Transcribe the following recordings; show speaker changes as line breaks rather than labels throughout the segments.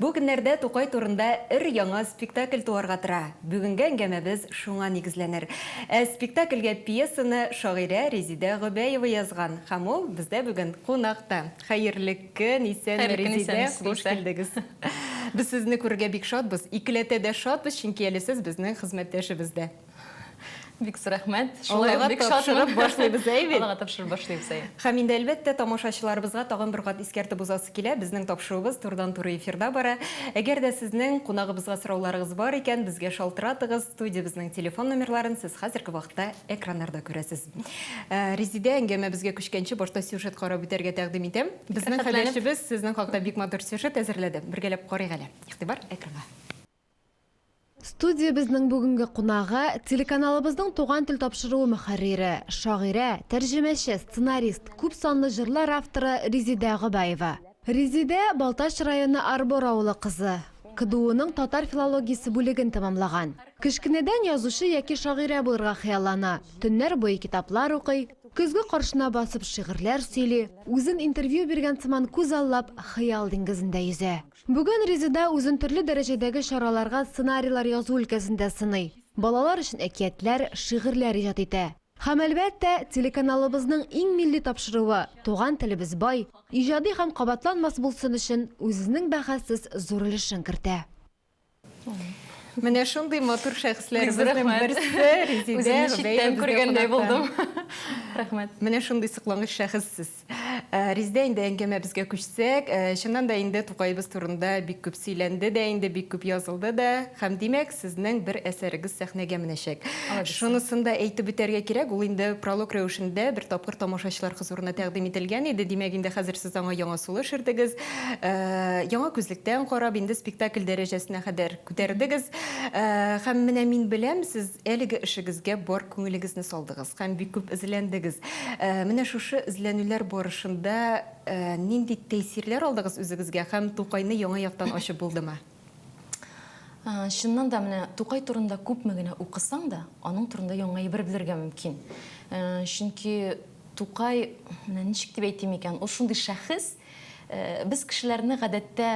Бу көннәрдә Тукай турында өр-яңа спектакль туарга тора. Бүгенге әңгәмәбез шуңа нигезләнер. Ә спектакльгә пьесаны шагыйрә Резидә Гобәева язган һәм ул бездә бүген кунакта. Хәерле көн, исәнме, Резидә, хуш килдегез. Без сезне күрергә бик шатбыз. Икеләтә дә шатбыз, чөнки әле сез безнең хезмәттәшебез дә.
Бик су рәхмәт. Шулай ук бик
шатырып башлыйбыз, әй бит. Аллага тапшырып башлыйбыз,
әй. Һәм инде, әлбәттә,
тамашачыларыбызга тагын бер кат искәртеп узасы килә, безнең тапшыруыбыз турыдан-туры эфирда бара. Әгәр дә сезнең кунагыбызга сорауларыгыз бар икән, безгә шалтыратыгыз. Студиябезнең телефон номерларын сез хәзерге вакытта экраннарда күрәсез. Резидә, әңгәмәбезгә күчкәнче, башта сюжет карап үтәргә тәкъдим итәм. Безнең хәбәрчебез сезнең хакта бик матур сюжет әзерләде. Бергәләп карыйк әле. Игътибар, экранга.
Студиябезнең бүгенге кунагы, телеканалыбызның Туган тел тапшыруы мөхәррире, шагыйрә, тәрҗемәче, сценарист, күп санлы җырлар авторы Резидә Гобаева. Резидә, Балтач районы Арбор авылы кызы. КДУның татар филологиясе бүлеген тәмамлаган. Кечкенәдән язучы яки шагыйрә булырга хыяллана, төннәр буе китаплар укый, көзге каршына басып шигырьләр сөйли, үзен интервью биргән сыман күз аллап, хыял диңгезендә йөзә. Бүген Резеда үзен төрле дәрәҗәдәге чараларга сценарийлар язу өлкәсендә сыный, балалар өчен әкиятләр, шигырьләр иҗат итә. Һәм, әлбәттә, телеканалыбызның иң милли тапшыруы, Туган телебез бай, иҗади һәм кабатланмас булсын өчен, үзенең бәхәссез зур өлешен кертә.
Менә шундый матур шәхесләребезнең берсе Резидә Үземне читтән күргәндәй
булдым. Рәхмәт. Менә шундый
соклангыч шәхес сез. Э, Резидә инде әңгәмәбезгә күчсәк, э, чыннан да инде Тукаебыз турында бик күп сөйләнде дә инде, бик күп язылды да, һәм димәк, сезнең бер әсәрегез сәхнәгә менәчәк. Шунысын да әйтеп үтәргә кирәк, ул инде пролог рәвешендә бер тапкыр тамашачылар хозурына тәкъдим ителгән иде, димәк инде хәзер сез аңа яңа сулыш ирдегез. Э, яңа күзлектән карап, инде спектакль дәрәҗәсенә кадәр күтәрдегез. Э, һәм менә мин беләм, сез әлеге эшегезгә бар күңелегезне салдыгыз һәм бик күп эзләндегез. Э, менә шушы эзләнүләр барышында э, нинди тәэсирләр алдыгыз үзегезгә һәм Тукайны яңа яктан ачып булдымы? Ә, Чыннан
да менә Тукай турында күпме генә укысаң да, аның турында яңа әйбер белергә мөмкин. Ә, Чөнки Тукай, менә ничек дип әйтим икән, ул шундый шәхес, Э, без кешеләрне гадәттә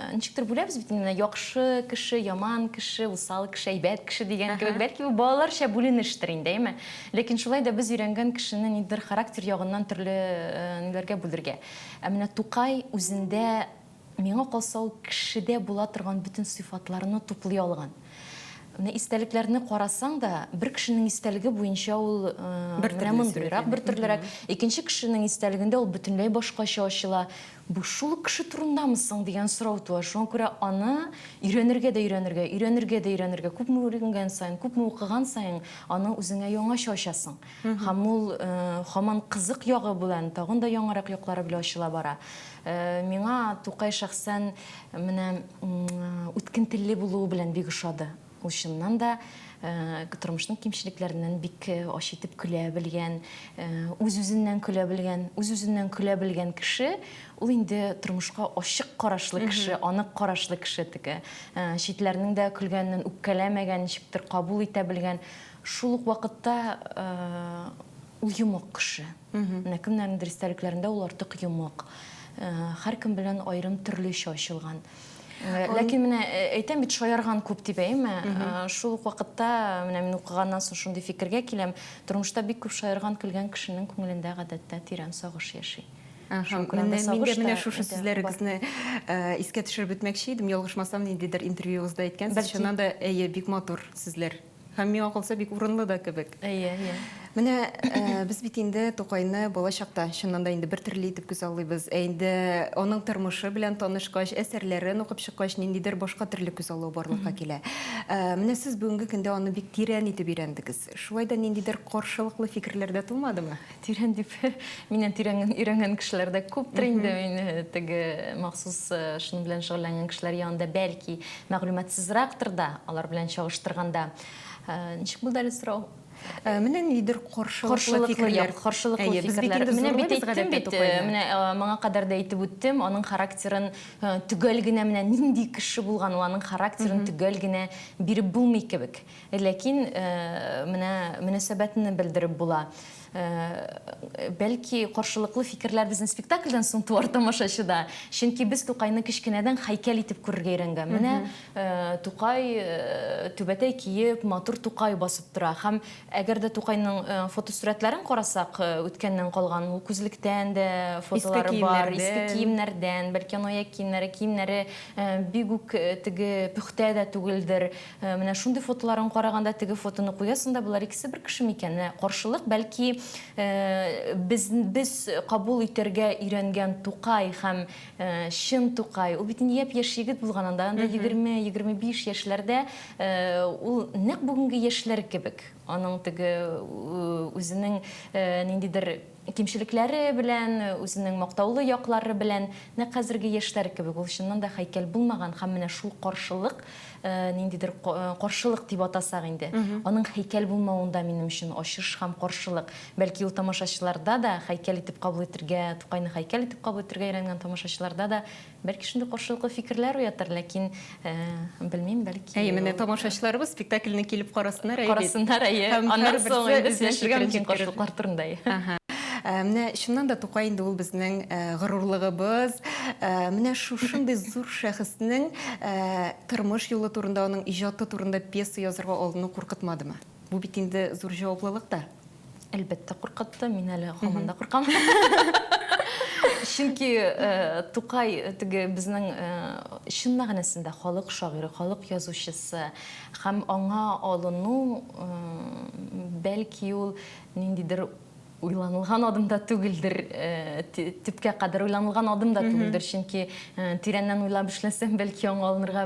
э, ничектер бүләбез бит инде яхшы кеше яман кеше усал кеше әйбәт кеше дигән кебек бәлки бу балаларча бүленештер инде әйме ләкин шулай да без өйрәнгән кешене ниндидер характер ягыннан төрле э, ниләргә бүлергә ә менә тукай үзендә миңа калса ул кешедә була торган бөтен сыйфатларны туплый алган Менә истәлекләрне карасаң да, бер кешенең истәлеге буенча ул менә мондыйрак, бер төрлерәк. Икенче кешенең истәлегендә ул бөтенләй башкача ачыла. Бу шул ук кеше турындамы соң дигән сорау туа. Шуңа күрә аны өйрәнергә дә өйрәнергә, өйрәнергә дә өйрәнергә, күпме үренгән саен, күпме укыган саен, аны үзеңә яңача ачасың. Һәм ул һаман кызык ягы белән, тагын да яңарак яклары белән ачыла бара. Миңа Тукай шәхсән Менә үткен телле булуы белән бик ошады. Ул чыннан да тормышның кимчелекләреннән бик ач итеп көлә белгән, үз-үзеннән көлә белгән, үз-үзеннән көлә белгән кеше, ул инде тормышка ачык карашлы кеше, анык карашлы кеше теге. Читләрнең дә көлгәнен үпкәләмәгән, ничектер кабул итә белгән, шул ук вакытта ул йомык кеше. Менә кемнәрнедер истәлекләрендә ул артык йомык. Һәркем белән айрым төрлечә ачылган. Ләкин менә әйтәм бит, шаярган күп дип әйме. Шул ук вакытта, менә мин укыганнан соң шундый фикергә киләм, тормышта бик күп шаярган, көлгән кешенең күңелендә гадәттә тирән сагыш яши. Мин дә
менә шушы сүзләрегезне искә төшереп үтмәкче идем. Ялгышмасам, ниндидер интервьюыгызда әйткәнсез. Чыннан да, әйе, бик матур сүзләр. Һәм миңа калса бик урынлы да кебек. Әйе, әйе. Менә без бит инде Тукайны бала чакта чыннан да инде бер төрле итеп күзаллыйбыз. Ә инде аның тормышы белән танышкач, әсәрләрен укып чыккач, ниндидер башка төрле күзаллау барлыкка килә. Менә сез бүгенге көндә аны бик тирән итеп өйрәндегез. Шулай да ниндидер каршылыклы фикерләр дә тумадымы? Тирән дип,
миннән тирәнен өйрәнгән кешеләр дә күптер инде. Мин э, теге махсус э, шуның белән шөгыльләнгән кешеләр янында бәлки мәгълүматсызрактыр да, алар белән чагыштырганда. Э, Ничек булды әле сорау? Э, Менә нидер
каршылыклы Каршылыклы, фикерләр. як, каршылыклы Әйе, без бит фикерләр.
инде Менә зурлы бит без әйттем гадәттә бит, э, Тукайны. менә э, моңа кадәр дә әйтеп үттем, аның характерын э, төгәл генә менә нинди кеше булган, ул аның характерын төгәл генә биреп булмый кебек. Ләкин менә мөнәсәбәтне белдереп була. Бәлки каршылыклы фикерләр безнең спектакльдән соң туар тамашачыда. Чөнки без Тукайны кечкенәдән һәйкәл итеп күрергә өйрәнгән. Менә Тукай түбәтәй киеп, матур Тукай басып тора. Һәм әгәр дә Тукайның фотосурәтләрен карасак, үткәннән калган, ул күзлектән дә фотолары бар, иске киемнәрдән, бәлки аны аяк киемнәре, киемнәре бик үк теге пөхтә дә түгелдер. Э, менә шундый фотоларын караганда теге фотоны куясың да болар икесе бер кеше микән менә каршылык бәлки э, без без кабул итәргә өйрәнгән тукай һәм э, чын тукай ул бит инде япь яшь егет булган анда анда егерме егерме биш яшьләрдә ул нәкъ бүгенге яшьләр кебек аның теге үзенең ниндидер Кимчелекләре белән, үзенең мактаулы яклары белән, нәкъ хәзерге яшьләр кебек, ул чыннан да һәйкәл булмаган һәм менә шул каршылык, ниндидер каршылык дип атасак инде, аның һәйкәл булмавын да минем өчен ачыш һәм каршылык. Бәлки ул тамашачыларда да, һәйкәл итеп кабул итергә, Тукайны һәйкәл итеп кабул итергә өйрәнгән тамашачыларда да Бәлки шундый каршылыклы фикерләр уятыр, ләкин белмим, бәлки. Әйе, менә тамашачыларыбыз
спектакльне килеп карасыннар, әйе. Карасыннар, әйе.
Аннан соң инде сөйләшергә мөмкин каршылыклар турында, әйе. Менә
чыннан да Тукай инде ул безнең горурлыгыбыз. Менә шушындый зур шәхеснең тормыш юлы турында, аның иҗаты турында пьеса язырга алыну куркытмадымы? Бу бит инде зур җаваплылык та. Әлбәттә,
куркытты. Мин әле һаман да куркам. Чөнки э, Тукай э, теге безнең э, чын мәгънәсендә халык шагыйре, халык язучысы һәм аңа алыну э, бәлки ул ниндидер уйланылган адым да түгелдер, төпкә кадәр уйланылган адым да түгелдер, чөнки тирәннән уйлап эшләсәң, бәлки яңа алынырга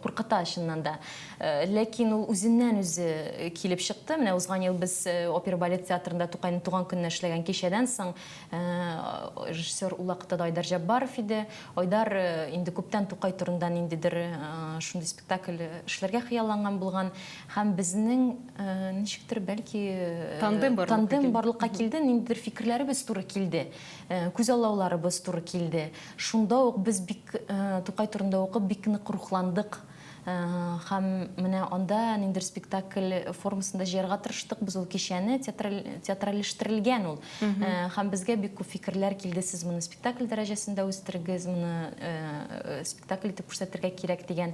куркыта чыннан да. Ләкин ул үзеннән үзе килеп чыкты. Менә узган ел без опера балет театрында Тукайның туган көненә эшләгән кичәдән соң режиссер ул вакытта да Айдар Җәббаров иде. Айдар инде күптән Тукай турында ниндидер шундый спектакль эшләргә хыялланган булган. Һәм безнең, ничектер, бәлки, тандем барлыкка килде, ниндидер фикерләребез туры килде, күзаллауларыбыз туры килде. Шунда ук без бик Тукай турында укып, бик нык рухландык. Һәм менә анда ниндидер спектакль формасында җыярга тырыштык без ул кичәне, театральләштерелгән ул. Һәм безгә бик күп фикерләр килде, сез моны спектакль дәрәҗәсендә үстерегез, моны спектакль итеп күрсәтергә кирәк дигән.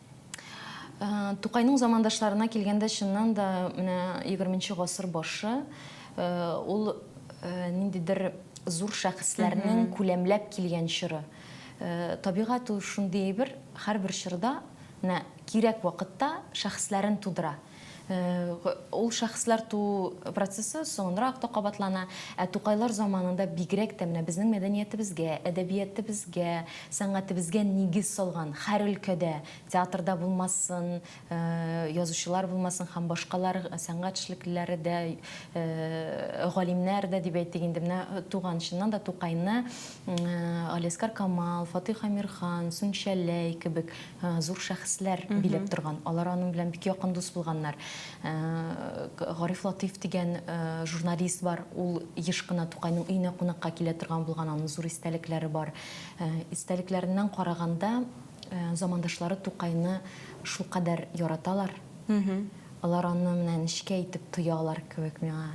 Тукайның замандашларына килгәндә, чыннан да, менә 20 нче гасыр башы, ул ниндидер зур шәхесләрнең күләмләп килгән чоры. Табигать ул шундый әйбер, һәрбер чорда, менә кирәк вакытта шәхесләрен тудыра. Ул шәхесләр туу процессы соңынрак та кабатлана. Ә Тукайлар заманында бигрәк тә менә безнең мәдәниятебезгә, әдәбиятебезгә, сәнгатебезгә нигез салган, һәр өлкәдә, театрда булмасын, язучылар булмасын һәм башкалар сәнгать эшлеклеләре дә, галимнәр дә дип әйтик инде, менә туган, чыннан да Тукайны Галиәскар Камал, Фатыйх Әмирхан, Сүнчәләй кебек, зур шәхесләр биләп торган. Алар аның белән бик якын дус булганнар. Э, Гариф Латыйф дигән э, журналист бар. Ул еш кына Тукайның өенә кунакка килә торган булган, аның зур истәлекләре бар. Э, истәлекләреннән караганда, замандашлары Тукайны шулкадәр яраталар. Алар аны менә нечкә итеп тоялар кебек миңа.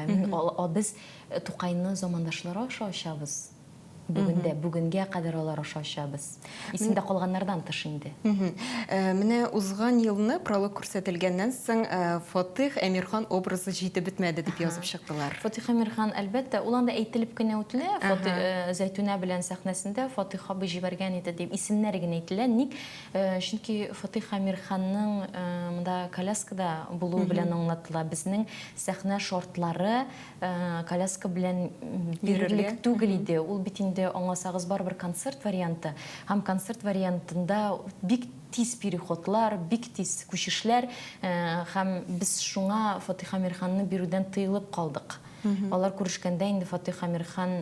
Мин, без Тукайны замандашлары аша ачабыз. Бүген дә, бүгенгә кадәр алар аша очабыз. Исемдә калганнардан тыш инде. Менә
узган елны пролог күрсәтелгәннән соң Фатыйх Әмирхан образы җитеп бетмәде дип язып чыктылар. Фатыйх Әмирхан,
әлбәттә, ул анда әйтелеп кенә үтелә. Зәйтүнә белән сәхнәсендә Фатыйх абый җибәргән иде дип исемнәр генә әйтелә. Ник? Чөнки Фатыйх Әмирханның монда коляскада булуы белән аңлатыла. Безнең сәхнә шартлары коляска белән бирерлек түгел иде. Ул бит инде аңласагыз барыбер концерт варианты. Һәм концерт вариантында бик тиз переходлар, бик тиз күчешләр һәм без шуңа Фатыйх Амирханны бирүдән тыелып калдык. Алар күрешкәндә инде Фатыйх Амирхан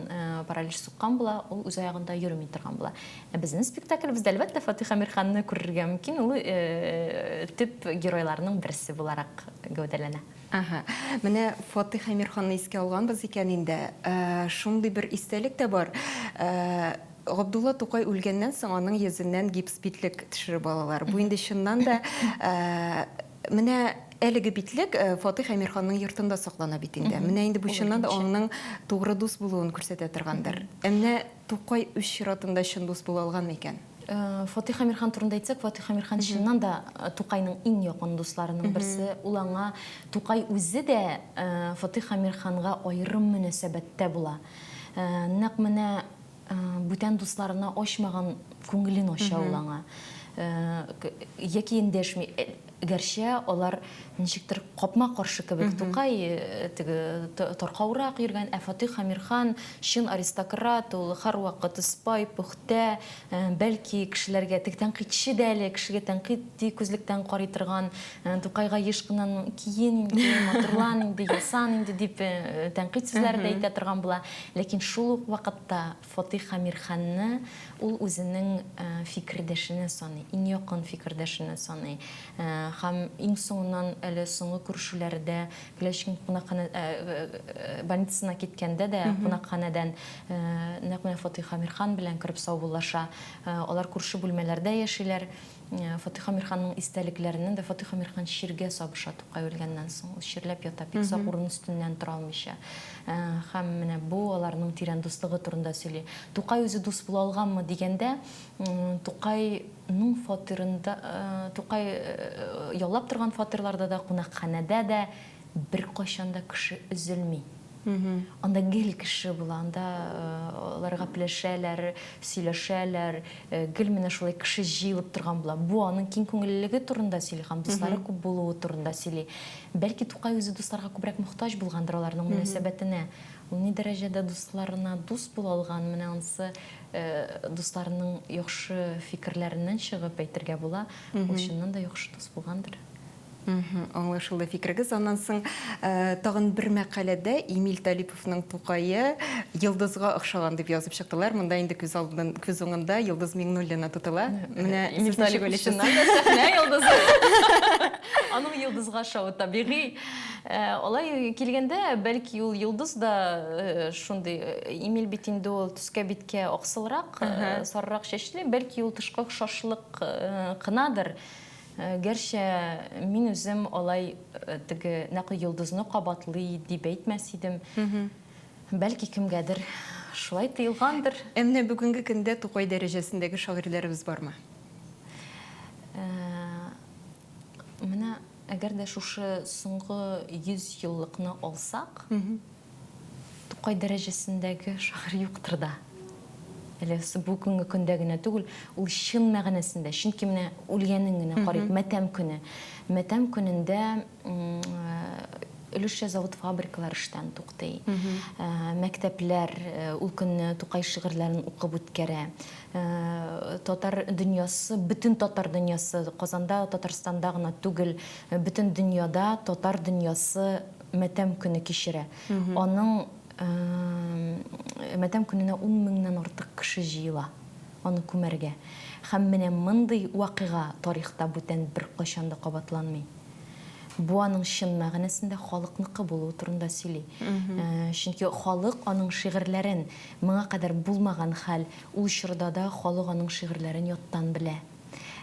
паралич суккан була, ул үз аягында йөрми торган була. Ә безнең спектаклебездә, әлбәттә, Фатыйх Амирханны күрергә мөмкин, ул төп геройларның берсе буларак гәүдәләнә. Әһә, менә
Фатыйх Әмирханны искә алганбыз икән инде. Шундый бер истәлек тә бар. Габдулла Тукай үлгәннән соң, аның йөзеннән гипс битлек төшереп алалар. Бу инде чыннан да Менә әлеге битлек Фатыйх Әмирханның йортында саклана бит инде. Менә инде бу чыннан да аңның тугры дус булуын күрсәтә торгандыр. Ә менә Тукай үз чиратында чын дус була алганмы икән? Фатих Әмирхан
турында әйтсәк, Фатих Әмирхан чыннан да Тукайның иң якын дусларының берсе. Ул аңа Тукай үзе дә Фатих Әмирханга аерым мөнәсәбәттә була. Нәкъ менә бүтән дусларына ачмаган күңелен ача ул аңа. Яки эндәшми. Гәрчә алар ничектер капма-каршы кебек, Тукай теге таркаурак йөргән, ә Фатыйх Әмирхан чын аристократ, ул һәрвакыт сыпай, пөхтә, бәлки кешеләргә теге тәнкыйтьче дә әле, кешегә тәнкыйтьи күзлектән карый торган, Тукайга еш кына ну, киен инде, матурлан инде, ясан инде дип тәнкыйть сүзләре дә әйтә торган була. Ләкин шул ук вакытта. Фатыйх Әмирханны ул үзенең фикердәшенә саный, иң якын фикердәшенә саный. Һәм иң соңыннан әле соңгы күрешүләрдә Клячкин кунакханә больницасына киткәндә дә кунакханәдән нәкъ менә Фатыйх Әмирхан белән кереп саубуллаша. Алар күрше бүлмәләрдә яшиләр. Фатыйх Амирханның истәлекләреннән дә Фатыйх Амирхан чиргә сабыша Тукай үлгәннән соң. Ул чирләп ята, бик сак урын өстеннән тора алмыйча. Һәм менә бу аларның тирән дуслыгы турында сөйли. Тукай үзе дус була алганмы дигәндә, Тукайның фатирында, Тукай яллап торган фатирларда да, кунакханәдә дә, Беркайчан да кеше өзелми. Анда гел кеше була, анда алар гапләшәләр, сөйләшәләр, гел менә шулай кеше җыелып торган була. Бу аның киң күңеллелеге турында сөйли һәм дуслары күп булуы турында сөйли. Бәлки Тукай үзе дусларга күбрәк мохтаҗ булгандыр аларның мөнәсәбәтенә. Ул ни дәрәҗәдә дусларына дус була алган, менә анысы дусларының яхшы фикерләреннән чыгып әйтергә була. Ул чыннан да яхшы дус булгандыр.
Аңлашылды фикерегез. Аннан соң тагын бер мәкаләдә Эмиль Талиповның Тукае йолдызга охшаган дип язып чыктылар. Монда инде күз алдын, күз уңында Йолдыз Миңнуллина тотыла. Менә Эмиль Талипович
чыннан да сәхнә йолдызы. Аның йолдызга охшавы табигый. Алай килгәндә, бәлки ул йолдыз да шундый, Эмиль бит инде ул төскә-биткә аксылрак, сарырак чәчле, бәлки ул тышкы охшашлык кынадыр. Гәрчә мин үзем алай теге нәкъ йолдызны кабатлый дип әйтмәс идем. Бәлки кемгәдер шулай тоелгандыр. Ә менә бүгенге
көндә Тукай дәрәҗәсендәге шагыйрьләребез бармы?
Менә әгәр дә шушы соңгы 100 еллыкны алсак, Тукай дәрәҗәсендәге шагыйрь юктыр да әле, бүгенге көндә генә түгел, ул чын мәгънәсендә, чөнки менә үлгәнен генә карыйк, матәм көне. Матәм көнендә өлешчә завод-фабрикалар эштән туктый. Мәктәпләр ул көнне Тукай шигырьләрен укып үткәрә. Татар дөньясы, бөтен татар дөньясы, Казанда, Татарстанда гына түгел, бөтен дөньяда татар дөньясы матәм көне кичерә. Аның матәм көненә ун меңнән артык кеше җыела, аны күмәргә. Һәм менә мондый вакыйга тарихта бүтән беркайчан да кабатланмый. Бу аның чын мәгънәсендә халыкныкы булуы турында сөйли. Чөнки халык аның шигырьләрен, моңа кадәр булмаган хәл, ул чорда да халык аның шигырьләрен яттан белә.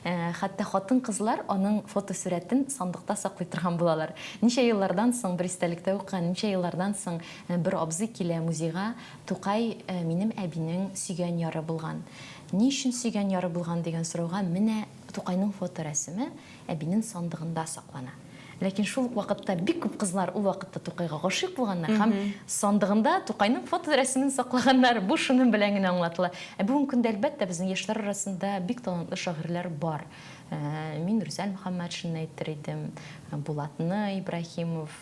Хәтта хатын-кызлар аның фотосурәтен сандыкта саклый торган булалар. Ничә еллардан соң, бер истәлектә укыган, ничә еллардан соң бер абзый килә музейга, Тукай минем әбинең сөйгән яры булган. Ни өчен сөйгән яры булган дигән сорауга, менә Тукайның фоторәсеме әбинен сандыгында саклана. Ләкин шул ук вакытта бик күп кызлар ул вакытта Тукайга гашыйк булганнар һәм сандыгында Тукайның фоторәсемен саклаганнар. Бу шуның белән генә аңлатыла. Ә бүгенге көндә, әлбәттә, безнең яшьләр арасында бик талантлы шагыйрьләр бар. Мин Рүзәл Мөхәммәтшинны әйтер идем, Булатны Ибраһимов.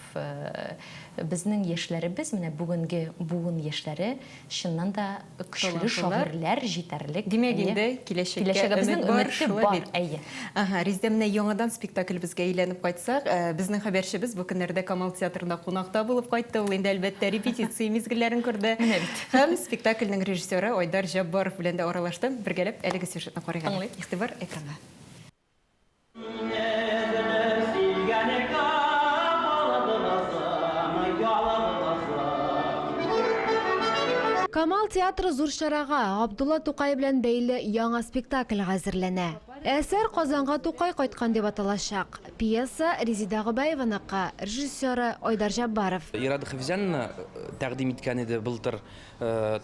Безнең яшьләребез, менә бүгенге буын яшьләре Чыннан да көчле шагыйрьләр җитәрлек. Димәк инде,
киләчәккә өмет бар, шулай
бит? Әйе. Әһә, Резидә,
менә яңадан спектаклебезгә әйләнеп кайтсак, безнең хәбәрчебез бу көннәрдә Камал театрында кунакта булып кайтты. Ул инде, әлбәттә, репетиция мизгелләрен күрде. Менә бит. Һәм спектакльнең режиссеры Айдар Җаббаров белән дә аралашты. Бергәләп әлеге сюжетны карыйк әле. Тыңлыйк. Игътибар, экранга.
Камал театры зур чарага, Габдулла Тукай белән бәйле яңа спектакльгә әзерләнә. Әсәр Казанга Тукай кайткан дип аталачак. Пьеса, Резеда Гобәеваныкы, режиссеры, Айдар Җаббаров. Ирада Хәфизәнина
тәкъдим иткән иде былтыр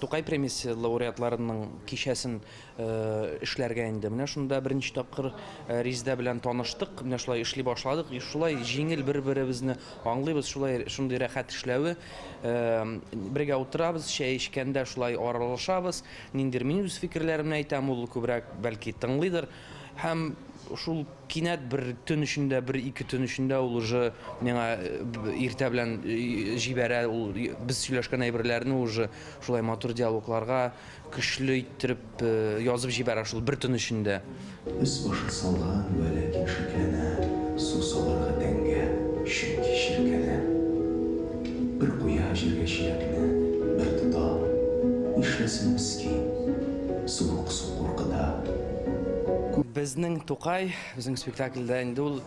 Тукай премиясе лауреатларының кичәсен. эшләргә инде. Менә шунда беренче тапкыр Риздә белән таныштык. Менә шулай эшли башладык. Шулай җиңел бер-беребезне аңлыйбыз. Шулай шундый рәхәт эшләве. Бергә утырабыз, чәй эчкәндә шулай аралашабыз. Ниндидер мин үз фикерләремне әйтәм, ул күбрәк бәлки тыңлыйдыр. Һәм шул кинәт бер төн эчендә, бер-ике төн эчендә ул уже миңа иртә белән җибәрә, ул без сөйләшкән әйберләрне уже шулай матур диалогларга Көчле иттереп язып җибәрә шул бер төн эчендә. Өс-башы
салган вә ләкин шикләнә, су салырга тәңгә, чөнки чиркәнә. Бер куя җиргә чиләкне, бер тота. Нишләсен мескин, суык су куркыта. Күп.
Безнең Тукай, безнең спектакльдә инде ул,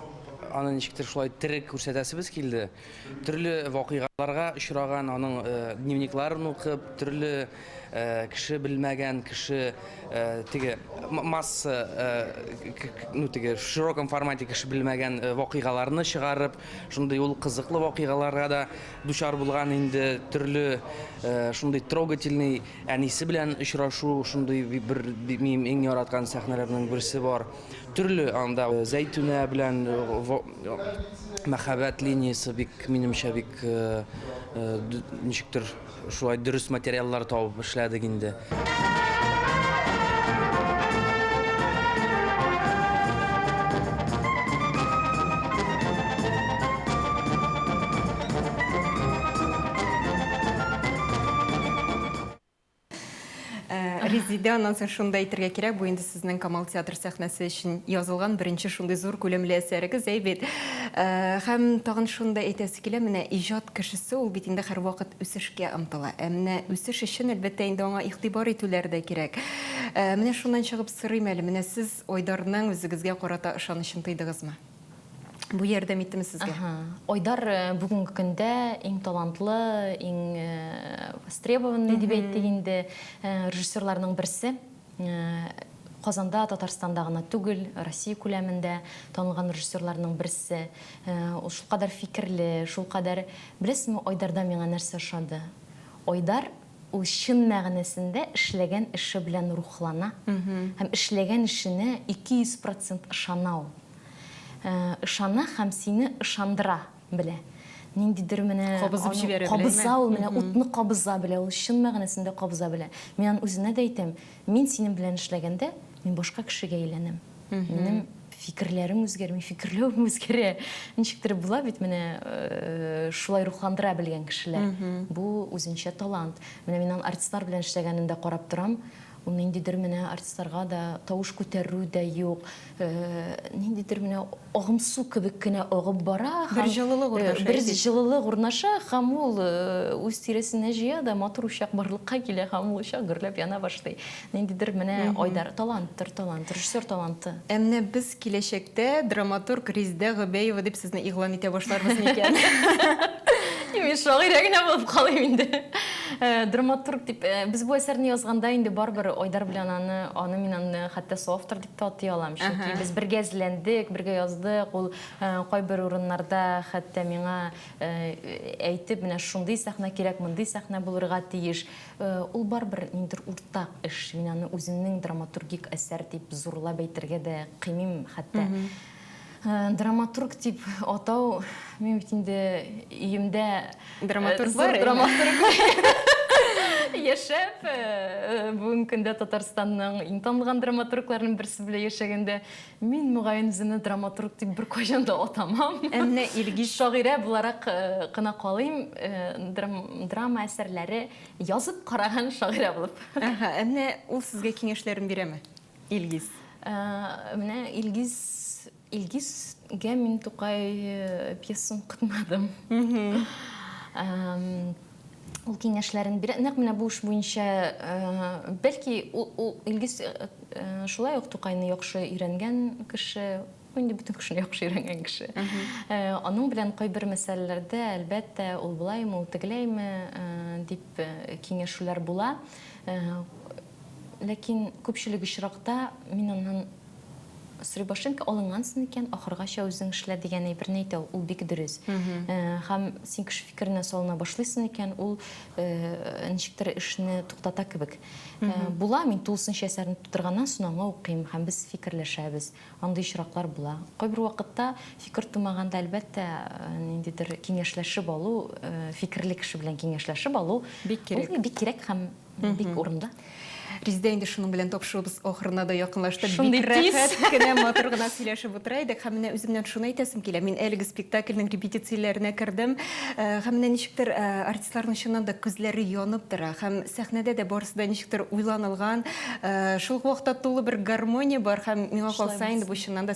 аны ничектер шулай тере күрсәтәсебез килде. Төрле вакыйгаларга очраган, аның дневникларын укып, төрле кеше белмәгән, кеше теге масса, ну теге в широком формате кеше белмәгән вакыйгаларны чыгарып, шундый ул кызыклы вакыйгаларга да дучар булган инде, төрле шундый трогательный әнисе белән очрашу, шундый бер минем иң яраткан сәхнәләрнең берсе бар. Төрле анда Зәйтүнә белән мәхәббәт линиясе бик, минемчә, бик ничектер шулай дөрес материаллар табып эшләдек инде.
Резидә, аннан соң шуны да әйтергә кирәк, бу инде сезнең Камал театр сәхнәсе өчен язылган беренче шундый зур күләмле әсәрегез, әй бит. Һәм тагын шуны да әйтәсе килә, менә иҗат кешесе ул бит инде һәрвакыт үсешкә омтыла. Ә менә үсеш өчен, әлбәттә, инде аңа игътибар итүләр дә кирәк. Менә шуннан чыгып сорыйм әле, менә сез Айдарның үзегезгә карата ышанычын тойдыгызмы? Бу ярдәм иттеме сезгә? Ага. Айдар
э, бүгенге көндә иң талантлы, иң э, востребованный дип әйттек инде э, режиссерларның берсе. Э, Казанда, Татарстанда гына түгел, Россия күләмендә танылган режиссерларның берсе. Э, Ул шулкадәр фикерле, шулкадәр... Беләсеңме, Айдарда миңа нәрсә ошады? Айдар Ул чын мәгънәсендә эшләгән эше белән рухлана һәм эшләгән эшенә 200 процент ышана ул. Ышана һәм сине ышандыра белә. Ниндидер менә Кабызып җибәрә белә, әйме? Кабыза ул менә, утны кабыза белә ул, чын мәгънәсендә кабыза белә. Мин аны үзенә дә әйтәм, мин синең белән эшләгәндә, мин башка кешегә әйләнәм. Минем фикерләрем үзгәрми, фикерләвем үзгәрә. Ничектер була бит менә э, шулай рухландыра белгән кешеләр. Бу үзенчә талант. Менә мин аның артистлар белән эшләгәнендә карап торам. Ул ниндидер менә артистларга да тавыш күтәрү дә юк. Э, ниндидер менә Агым су кебек кенә агып бара һәм
бер җылылык
урнаша һәм ул үз тирәсенә җыя да матур учак барлыкка килә һәм ул учак гөрләп яна башлый. Ниндидер менә Айдар, таланттыр талант, режиссер таланты. Ә менә без
киләчәктә драматург Риздә Гобәева дип сезне игълан итә башларбыз
микән? Юк,
мин
шагыйрә генә
булып
калыйм инде. Драматург дип, без бу әсәрне язганда инде барыбер Айдар белән аны, аны мин аны хәтта соавтор дип. Татый алам, чөнки без бергә эзләндек, бергә яздык. Ул кайбер урыннарда хәтта миңа әйтеп, менә шундый сәхнә кирәк, мондый сәхнә булырга тиеш. Ул барыбер ниндидер уртак эш. Мин аны үземнең драматургик әсәр дип зурлап әйтергә дә кыймыйм хәтта. Э, драматург дип атау мин бит инде өемдә э, драматург бар
драматург
яшәп э, бүгенге көндә татарстанның иң танылган драматургларының берсе белән яшәгәндә мин мөгаен үземне драматург дип беркайчан да атамам ә менә илгиз
шагыйрә буларак
кына калыйм драма әсәрләре язып караган шагыйрә булып ә менә ул
сезгә киңәшләрен бирәме Илгиз. Менә
Илгиз Илгизгә мин Тукай пьесын укытмадым. Ул киңәшләрен бирә. Нәкъ менә бу эш буенча, бәлки, ул Илгиз шулай ук Тукайны яхшы өйрәнгән кеше, инде бөтен кешене яхшы өйрәнгән кеше. Аның белән кайбер мәсьәләләрдә, әлбәттә, ул болаймы, ул тегеләйме дип киңәшүләр була. Ләкин күпчелек очракта мин аннан Сребошенко алынгансың икән, ахыргача үзең эшлә дигән әйберне әйтә ул, ул бик дөрес. Һәм син кеше фикеренә салына башлыйсың икән, ул ничектер эшне туктата кебек. Була, мин тулысынча әсәрне тутырганнан соң аңа укыйм һәм без фикерләшәбез. Андый очраклар була. Кайбер вакытта фикер тумаганда, әлбәттә, ниндидер киңәшләшеп алу, фикерле кеше белән киңәшләшеп алу, ул бик кирәк һәм Бик урында. Резидә инде
шуның белән тапшыруыбыз ахырына да якынлаштык. Шундый рәхәт кенә
матур
гына сөйләшеп утыра идек. Һәм менә үземнән шуны әйтәсем килә. Мин әлеге спектакльнең репетицияләренә кердем. Һәм менә ничектер артистларның чыннан да күзләре янып тора. Һәм сәхнәдә дә барысы да ничектер уйланылган. Шул ук вакытта тулы бер гармония бар. Һәм миңа калса инде бу чыннан да